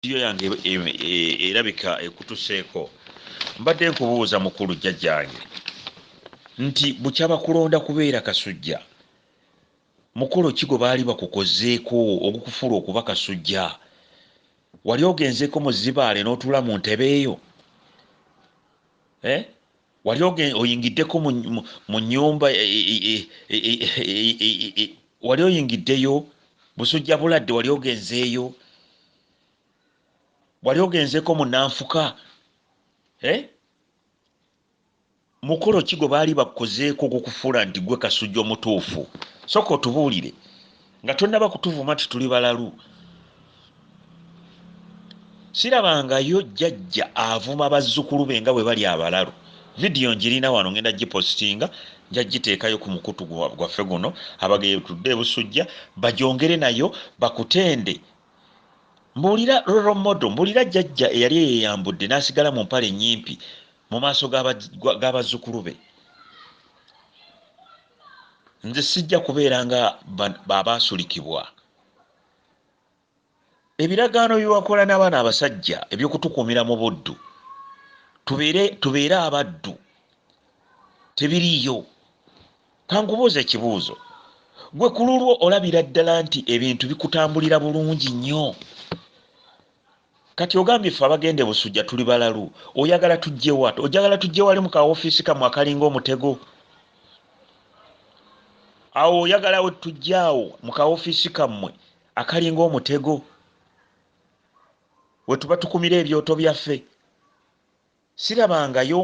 vidiyo yange erabika ekutuseeko mbadde nkubuuza mukulu jjajjange nti bukyaba kulonda kubeera kasujja mukolo ki gwe baali bakukozeeko ogukufuula okuba kasujja wali ogenzeeko mu zibaale n'otuula mu ntebe eyo eh? wali oyingiddeko mu nyumba wali oyingiddeyo busujja buladde wali ogenzeeyo wali ogenzeeko munanfuka eh? mukolo ki gwe baali bakukozeeko okukufuula nti gwe kasujja omutuufu soka otubuulire nga tonaba kutuvuma nti tuli balalu sirabangayo jjajja avuma bazzukulu be nga bwe bali abalalu vidiyo njirina wano ngenda gipositinga njagiteekayo ku mukutu gwaffe guno abagetudde ebusujja bajongere nayo bakutende mbuulira roromodo mbuulira jjajja eyali eyeyambudde n'asigala mu mpale ennyimpi mu maaso g'abazzukulu be nze sijja kubeera nga babaasulikibwa ebiragaano byewakola n'abaana abasajja ebyokutukuumira mu buddu tubeere abaddu tebiriiyo kankubuuza ekibuuzo gwe ku lulwo olabira ddala nti ebintu bikutambulira bulungi nnyo Kati ogambye ffe abagenda e Busujja tuli balalu? Oyagala tujje wa? Ojagala tujje wali mu ka office kamwe akalinga omutego? Awo oyagala we tujje awo mu ka office kamwe akalinga omutego? Wetuba tukumira ebyoto byaffe? Sirabangayo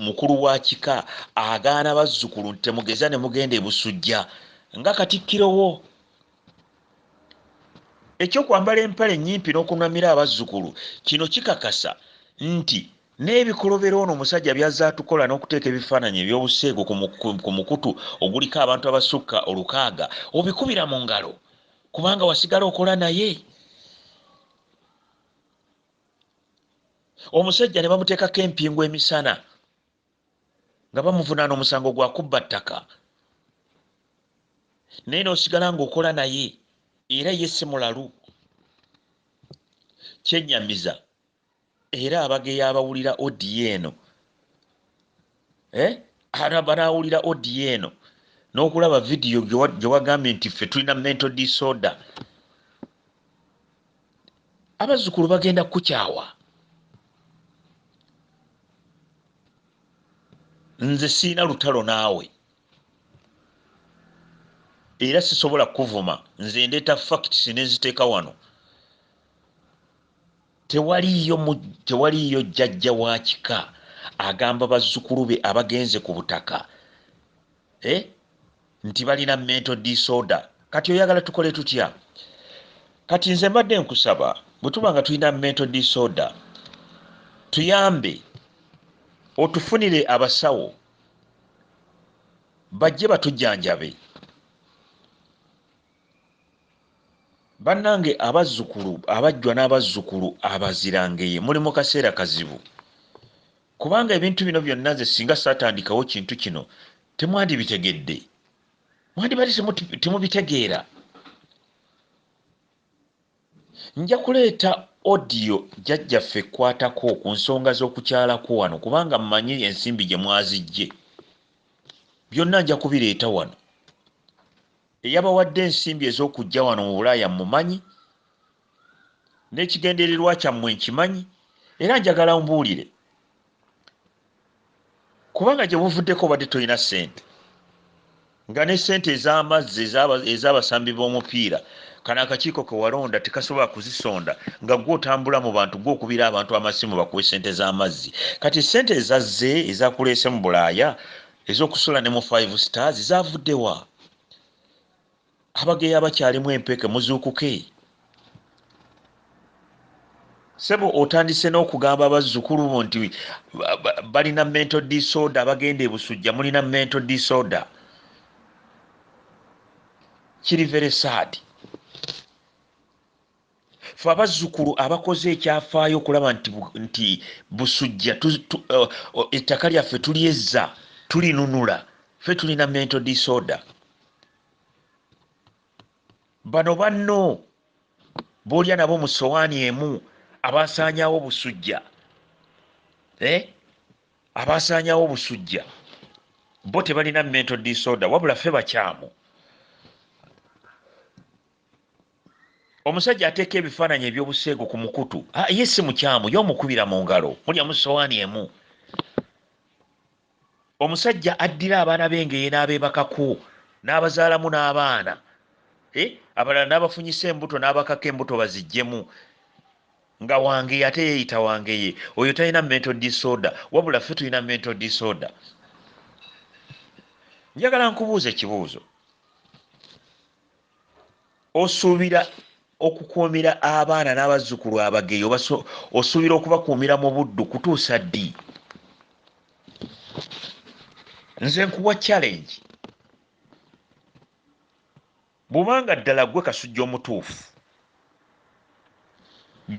mukulu wa kika agaana bazzukulu nti temugeza ne mugenda e Busujja nga Katikkiro wo. Eky'okwambala empale ennyimpi n'okunamira abazzukulu kino kikakasa nti n'ebikolobero ono omusajja by'azze atukola n'okuteeka ebifaananyi eby'obuseegu ku mukutu oguliko abantu abasukka olukaaga obikubira mu ngalo kubanga wasigala okola naye. omusajja ne bamuteekako empingu emisana nga bamuvunaana omusango gwa kubba ttaka naye n'osigala ng'okola naye era ye si mulalu kyennyamiza era abageya abawulira odiyo eno eh? banawulira odiyo eno n'okulaba vidiyo gye wagambye nti ffe tulina mento disorder abazzukulu bagenda kukukyawa nze siina lutalo naawe era sisobola kukuvuma nze ndeeta facts nenziteeka wano Tewaliiyo mu, tewaliiyo jjajja wa kika agamba bazzukulu be abagenze ku butaka eh, nti balina mental disorder. Kati oyagala tukole tutya? Kati nze mbadde nkusaba bwe tuba nga tulina mental disorder, tuyambe otufunire abasawo bajje batujjanjabe. bannange abazzukulu abajjwa n'abazzukulu abazirangeye muli mu kaseera kazibu kubanga ebintu bino byonna nze singa saatandikawo kintu kino temwandibitegedde mwandibadde temubitegeera nja kuleeta odiyo jjajjaffe ekwatako ku nsonga z'okukyalako wano kubanga mmanyi ensimbi gye mwazijje byonna nja kubireeta wano Eyabawadde ensimbi ez'okujja wano mu Bulaaya mmumanyi, n'ekigendererwa kyammwe nkimanyi, era njagala ombuulire, kubanga gye buvuddeko obadde tolina ssente, nga ne ssente ez'amazzi ez'abasambi b'omupiira kano akakiiko ke walonda tekasobola kuzisonda, nga ggwe otambula mu bantu, ggwe okubira abantu amasimu bakuwe ssente z'amazzi. Kati ssente ezazze, ezakuleese mu Bulaaya, Ezokusula ne mu five stars zavudde wa? Abageya bakyalimu empeke muzuukuke. Sebo otandise n'okugamba abazzukulu bo nti balina mental disorder abagenda ebusujja mulina mental disorder kiri very sad fe abazzukulu abakoze ekyafaayo okulaba nti, nti busujja tu, tu, uh, uh, ettaka lyaffe tulyezza tulinunula fe tulina mental disorder bano banno boolya nabo mu sowaani emu abasaanyawo busujja eh? abasaanyawo busujja bo tebalina mental disorder wabula fe bakyamu omusajja ateeka ebifaananyi eby'obuseegu ku mukutu ah, ye si mukyamu ye omukubira mu ngalo mulya mu sowaani emu omusajja addira abaana b'engeye n'abeebakako n'abazaalamu n'abaana eh, abalala n'abafunyisa embuto n'abakako embuto baziggyemu nga wangeye ate yeeyita wangeye oyo talina mento disorder wabula ffe tulina mento disorder njagala nkubuuza ekibuuzo Osuubira okukuumira abaana n'abazzukulu abageyi osuubira okubakuumira mu buddu kutuusa ddi? Nze nkuwa challenge bubanga ddala gwe kasujja omutuufu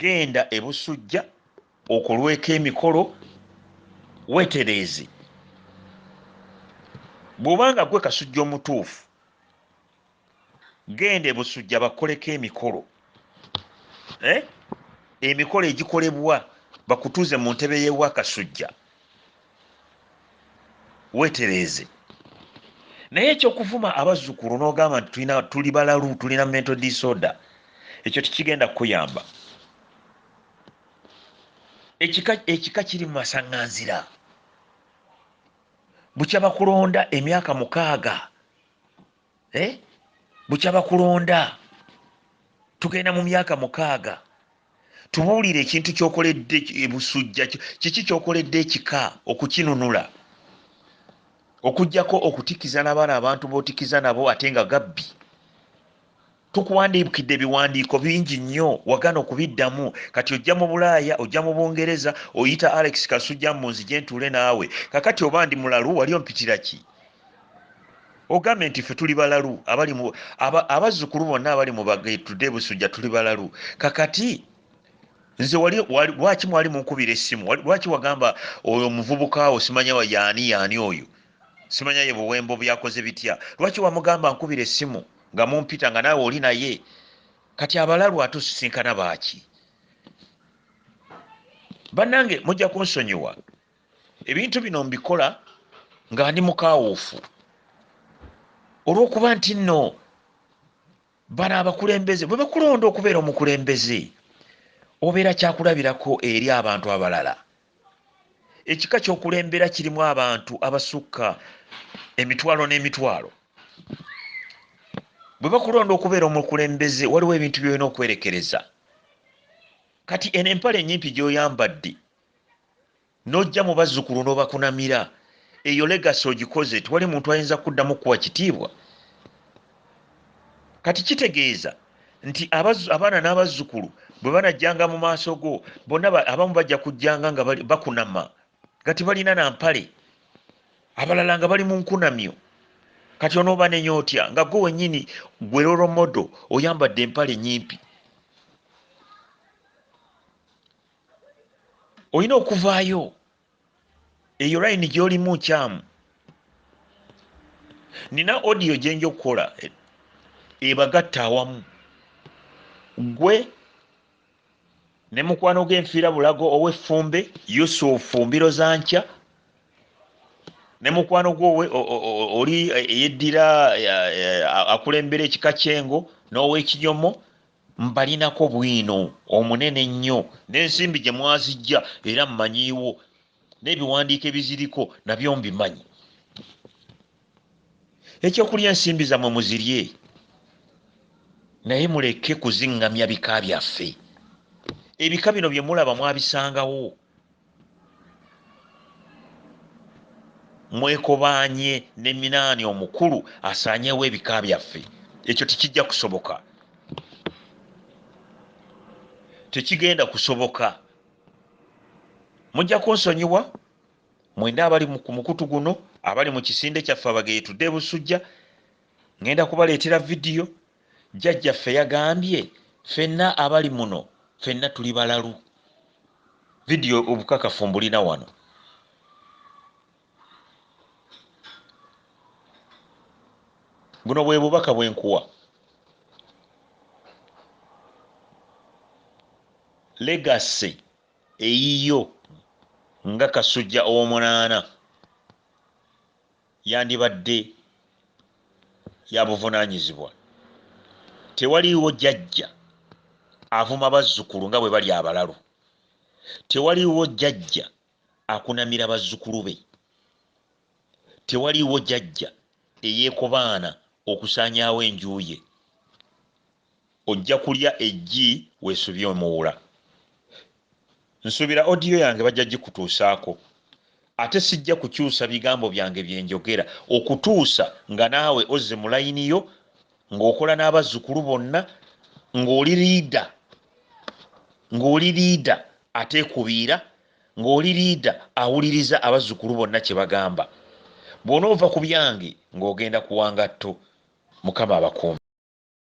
genda ebusujja okolweko emikolo wetereeze bwobanga gwe kasujja omutuufu Genda e Busujja bakukoleko emikolo eh? Emikolo egikolebwa bakutuuze mu ntebe y'ewa Kasujja wetereeze. Naye ekyokuvuma abazzukulu n'ogamba nti tulina tuli balalu tulina mental disorder ekyo tekigenda kukuyamba. Ekika ekika kiri mu masaŋŋanzira. Bukya bakulonda emyaka mukaaga. eh? bukya bakulonda tugenda mu myaka mukaaga tubuulire ekintu kyokoledde ebusujja kiki kyokoledde ekika okukinunula okujjako okutikiza nabaana abantu botikiza nabo ate nga gabbi tukuwandiikidde ebiwandiiko bingi nnyo wagana okubiddamu kati ojja mu bulaaya ojja mu bungereza oyita alex kasujja mbu nzije ntuule naawe kakati oba ndi mulalu wali ompitira ki ogambye nti ffe tuli balalu abazzukulu bonna abali mubagetude busujja tuli balalu kakati nze wali lwaki mwali munkubira essimu lwaki wagamba oyo omuvubuka wo simanya yaani yaani oyo Simanya ye buwembo byakoze bitya lwaki wamugamba nkubira esimu nga mumpita nga naawe oli naye kati abalalu ate osisinkana baaki bannange mujja kunsonyiwa ebintu bino mbikola nga ndi mukawuufu olwokuba nti nno bano abakulembeze bwe bakulonda okubeera omukulembeze obeera kyakulabirako eri abantu abalala ekika kyokulembera kirimu abantu abasukka emitwalo n'emitwalo bwe bakulonda okubeera omukulembeze waliwo ebintu byolina okwerekereza kati eno empala enyimpi gyoyambadde nojja mu bazzukulu n'obakunamira eyo legasi ogikoze tiwali muntu ayinza kuddamu kukuwa kitiibwa kati kitegeeza nti abaana n'abazzukulu bwe banajjanga mu maaso go bonna abamu bajja kujjanga nga bakunama nga tebalina na mpale abalala nga bali mu nkunamyo kati onooba nenya otya nga gwe wennyini gwe loromodo oyambadde empale nyimpi olina okuvaayo eyo layini gyolimu nkyamu nina odiyo gyenja okukola e, ebagatta awamu gwe ne mukwano gwenfiira bulago oweffumbe yusufu mbiro za nkya ne mukwano gwo oli eyeddira akulembera ekika kyengo n'owekinyomo Mbalinako bwino omunene ennyo, n'ensimbi gye mwaziggya era mmanyiiwo, n'ebiwandiiko ebiziriko nabyo mbimanyi. Ekyokulya ensimbi zammwe muzirye, naye muleke kuziŋŋamya bika byaffe. Ebika bino bye mulaba mwabisangawo? mwekobaanye ne minaani omukulu asaanyewo ebika byaffe ekyo tekijja kusoboka tekigenda kusoboka mujja kunsonyiwa mwenda abali ku mukutu guno abali mu kisinde kyaffe abageetude busujja ŋenda kubaleetera vidiyo Jjajjaffe yagambye, Ffenna abali muno, ffenna tuli balalu. Vidiyo obukakafu mbulina wano. Buno bwe bubaka bwe nkuwa. Legasi eyiyo nga Kasujja ow'omunaana. yandibadde ya buvunaanyizibwa. Tewaliiwo jjajja avuma bazzukulu nga bwe bali abalalu. Tewaliiwo jjajja akunamira bazzukulu be. Tewaliiwo jjajja eyeekobaana okusaanyaawo enju ye. Ojja kulya eggi wesubye omuwula. Nsubira audio yange bajja jikutuusaako. Ate sijja kukyuusa bigambo byange byenjogera okutuusa nga naawe ozze mu line yo nga okola n'abazzukulu bonna nga oli leader nga oli leader ateekubiira nga oli leader awuliriza abazzukulu bonna kye bagamba. Bw'onoova ku byange nga ogenda kuwa ngatto. Mukama abakuume.